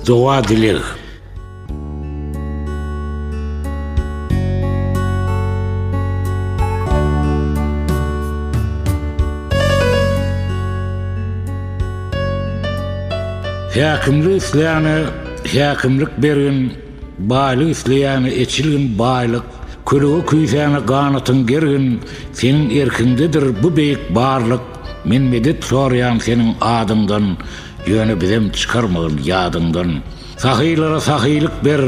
Doga dileg. Häkimli isläne häkimlik berin. Baýlyk isleýäňe eçilgin baýlyk, Kölege küýsäňe ganatyň gergin, Seniň erkiňdedir bu beýik barlyk, Men medet soraýan seniň adyňdan, Ýöne bizem çykarmagyn ýadyňdan. Sahylara sahylyk ber,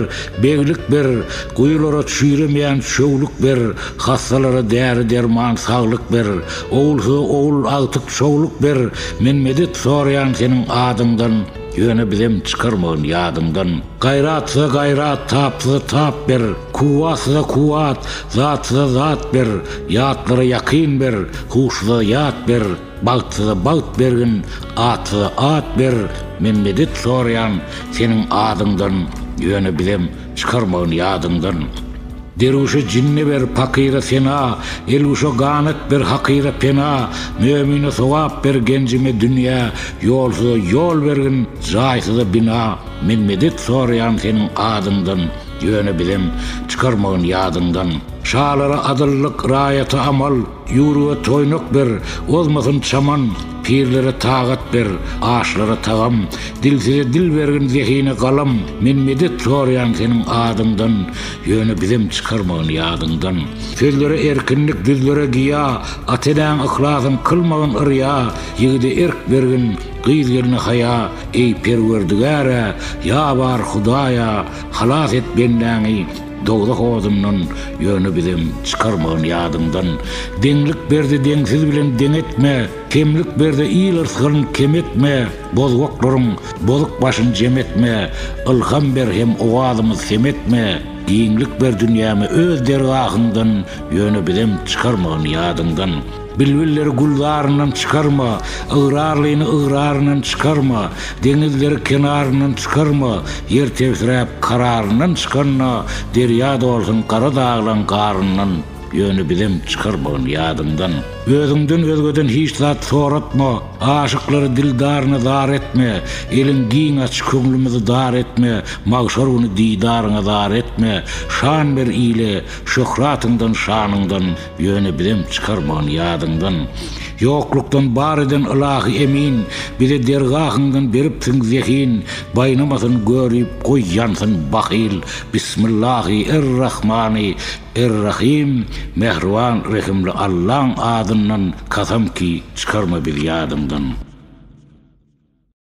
beglik ber, Guýulara çüýremeýän çöwlük ber, Hassalara däri-derman, saglyk ber, Ogulsyza ogul agtyk şowluk ber, Men medet soraýan seniň adyňdan. Ýöne bizem çykarmagyn ýadyňdan. Gaýratsyza gaýrat, tapsyza tap ber, Kuwwatsyza kuwwat, zatsyza zat ber, Ýatlara ýakyn ber, huşsyza ýat ber, Bagtsyza bagt bergin, atsyza at ber, Men medet soraýan seniň adyňdan, Ýöne bizem Çykarmagyn ýadyňdan. Derwüşe jinni ber, pakyra sena, Elwüşe ganat ber, hakyra pena, Mömine sogap ber, genjime dünýä, Ýolsuza ýol bergin, jaýsyza bina. Men medet soraýan seniň adyňdan, Ýöne bizem, çykarmagyn ýadyňdan. Şalara adyllyk, raýata amal. Ýurga toýnak ber, ozmasyn çaman, Pirlere tagat ber, aşlara tagam, Dilsize dil bergin, zehine galam, Men medet soraýan seniň adyňdan, Ýöne bizem çykarmagyn ýadyňdan. Sözlere erkinlik, düzlere giýa, At-enäň yhlasyn kylmagyn yrýa, Ýigide erk bergin, gyz-gelne haýa, Eý, Perwerdigär-ä, ýabar, Hudaý-a, Halas et bendäňi, Dowzah odundan ýöne bizem çykarmagyn ýadyňdan Deňlik berdi deňsiz bilen deň etme Kemlik berdi il yrsgyn kem etme Bozgaklaryň bozuk başyn jem etme Ylham ber hem owazymyz sem etme Giňlik ber dünýäme öz dergahyňdan ýöne bizem çykarmagyn ýadyňdan. Bilbilleri gülzaryndan çykarma, Ygrarlyny ygraryndan çykarma, Deňizleri kenaryndan çykarma, Ýer tebsiräp kararyndan çykanda, Derýa dolsun gara daglaň garyndan, Ýöne bizem çykarmagyn ýadyňdan. Özüňden özgeden hiç zat soratma, Aşyklary dildaryna zar etme, Eliň giň aç, köňlümizi dar etme, Magşar güni didaryňa zar etme, Şan ber ile, şöhratyňdan, şanyňdan, Ýöne bizem çykarman ýadyňdan. Ýoklukdan bar eden ylahy emin, Bize dergahyňdan beripsiň zehin. Baýnamasyn görip, goý ýansyn bahyl, Bismillahy er-Rahmany er-Rahym, Mähriban rehimli Allaň adyndan, Kasam ki, çykarma biz ýadyňdan.